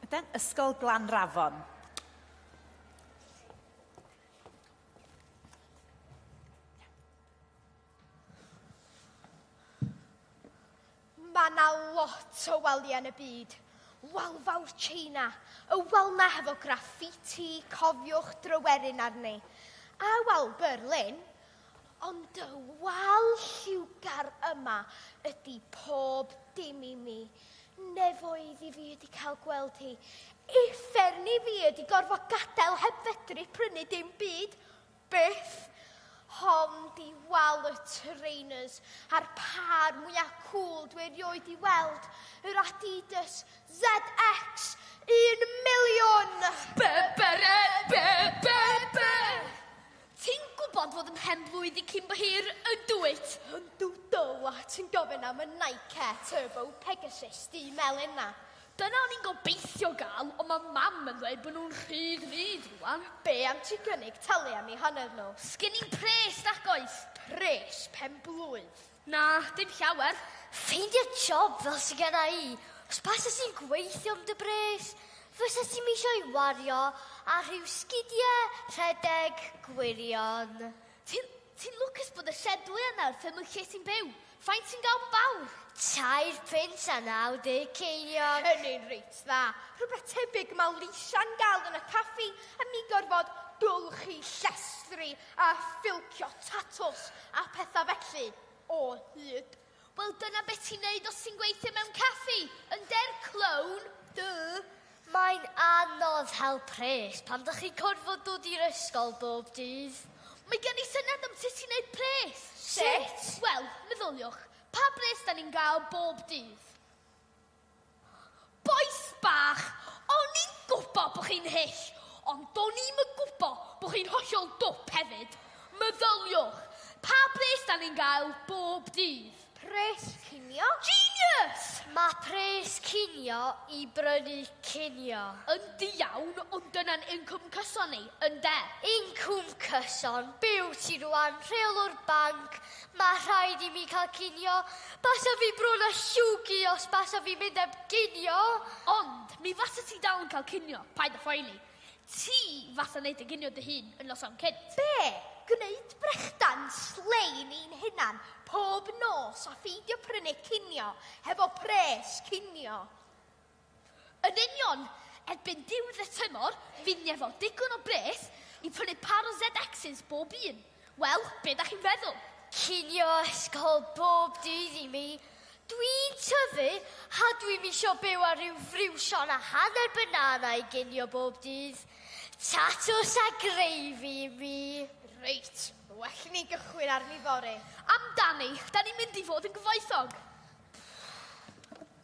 Yden, Ysgol Glanrafon. Mae yna lot o waliau yn y byd. Wal fawr China, y wal na hefo graffiti, cofiwch drywerin arni. A wal Berlin, Ond dy wal lliwgar yma ydi pob dim i mi. Nefoedd i fi ydi cael gweld hi. Uffern i fi ydi gorfod gadael heb fedru prynu dim byd. Byth. Hon di wal y trainers a'r pâr mwyaf cŵl dwi erioed i weld. Yr Adidas ZX 1 miliwn! Be, be, be, be, be, be! Ti'n gwybod fod yn hen-blwydd i cyn bo hir, yn dwyt? Yndw dull a ti'n gofyn am y Nike Air Turbo Pegasus du melyn 'na. Dyna o'n i'n gobeithio gael, ond ma' Mam yn dweud bod nhw'n rhy ddrud rwan. Be' am ti gynnig talu am i hanner nhw? Sgen i'm pres, nac oes! Pres pen-blwydd? Na, dim llawer. Ffeindio job fel sydd gyda i. Os basys ti'n gweithio am dy bres, fysa ti'n misio i wario ar rhyw sgidiau rhedeg gwirion. Ti'n ti lwcus bod y shed dwy yna wrth ymwch lle ti'n byw. Faint ti'n gael bob awr? Tair pint a 90 ceiniog. Yn ein reit dda. Rhywbeth tebyg mae Lisia'n gael yn y caffi a mi gorfod golchi llestri A philcio tatws a phethau felly, o hyd. Wel dyna beth ti'n neud os ti'n gweithio mewn caffi, ynder, clown? Duh! Mae'n anodd hel pres pan dych chi'n corfod dod i'r ysgol bob dydd. Mae gen i syniad am sut i wneud pres! Sut? Wel, meddyliwch, pa bres 'da ni'n gael bob dydd? Bois bach, o'n i'n gwbo bo chi'n hyll, ond do'n i'm yn gwbo bo chi'n hollol dwp hefyd. Meddyliwch, pa bres da ni'n gael bob dydd? Pres cinio? Genius! Mae pres cinio i brynu cinio. Yndi iawn, ond dyna'n incwm cyson ni, ynde? Incwm cyson? Be wyt ti rwan, rheolwr banc? Mae rhaid i mi cael cinio. Basa fi bron a llwgu os basa fi mynd heb ginio. Ond mi fasa ti dal yn cael cinio, paid a phoeni. Ti fasa neud y ginio dy hun yn noson cynt. Be? Gwneud brechdan slein i'n hunan pob nos a pheidio prynu cinio hefo pres cinio? Yn union! Erbyn diwedd y tymor, fydd ni efo digon o bres i prynu par o ZXs bob un. Wel, be da chi'n feddwl? Cinio ysgol bob dydd i mi! Dwi'n tyfu a dwi'm isio byw ar ryw friwsion a hanner banana i ginio bob dydd. Tatws a greifi i mi! Reit, well i ni gychwyn arni fory. Amdani, da ni'n mynd i fod yn gyfoethog!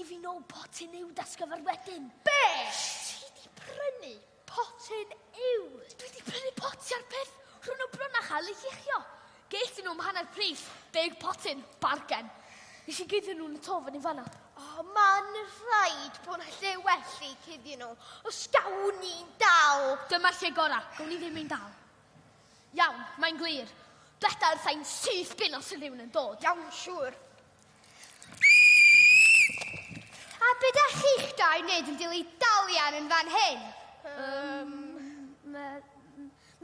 I fi nôl potyn yw dasgyfer wedyn. Be? Ti di prynu potyn yw? Dwi di prynu poti ar peth rhwng o bron a chael ei lluchio. Geith nhw am hanner pris, deg potyn, bargen. Nes i guddio nhw'n y to fan i fanna. O, oh, ma'n rhaid bod na lle well i cuddio nhw, os gawn ni'n dal. Dyma'r lle gorau, gawn ni ddim ein dal. Iawn, mae'n glir. Dweda wrtha i'n syth bin os yw rhywun yn dod. Iawn, siŵr. A beth da chi'ch dau wneud yn dili dalian yn fan hyn? Um, me,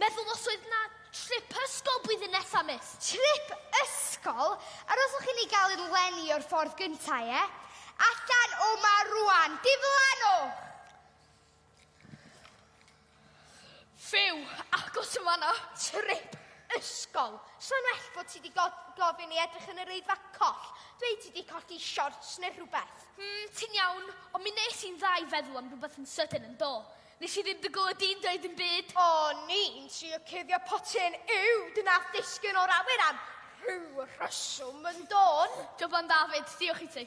meddwl os oedd na trip ysgol blwyddyn nesa, mis. Trip ysgol? Ar os o'ch chi'n ei gael i'r lenni o'r ffordd gyntaf, ie? Allan o ma rwan, diflanwch! Fyw! Agos yn fanna! Trip! Ysgol! Sa'n well bod ti di gofyn i edrych yn yr eidfa coll. Dweud ti di colli shorts neu rhywbeth. Hmm, ti'n iawn, ond mi nes i'n dda i feddwl am rhywbeth yn sydyn yn do. Nes i ddim dy glywed di'n dweud yn byd. O, ni'n trio cuddio potyn yw dy nath ddisgyn o'r awyr am rhyw rheswm yn dôn. Joban David, diolch i ti.